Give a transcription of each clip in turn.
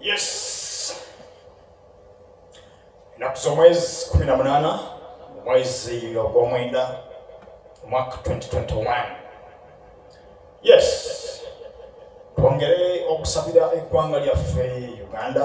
Yes. Ennaku z'omwezi kumi na munaana mu mwezi ogw'omwenda omwaka 2021 yes twongere okusabira eggwanga lyaffe uganda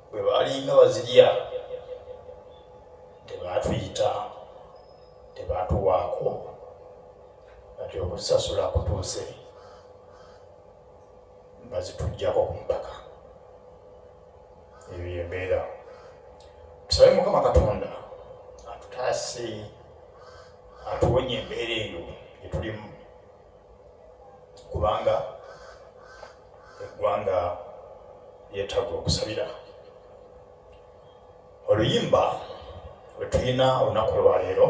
bwe baalinga bazirya tebaatuyita tebaatuwaako kati okusasula kutuuse bazitujjako ku mpaka ebyo embeera tusabe mukama katonda atutaase atuwonye embeera eyo etulimu kubanga eggwanga lyetaaga okusabira oluyimba wetulina olunaku lwaleero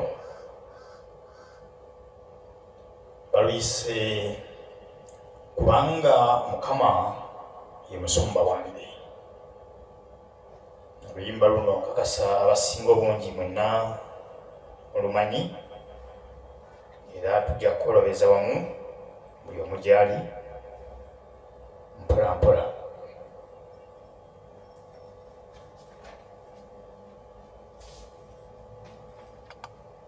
baluyise kubanga mukama ye musumba wange oluyimba luno nkakasa abasinga obungi mwenna olumanyi era tujja kukolobeza wamu buli omu gyali mpolampola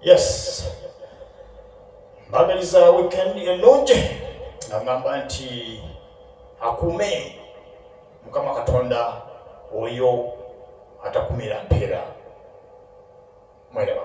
yes mbagaliza weekend ennungi agamba nti akuume mukama katonda oyo atakumira mpeera mwereba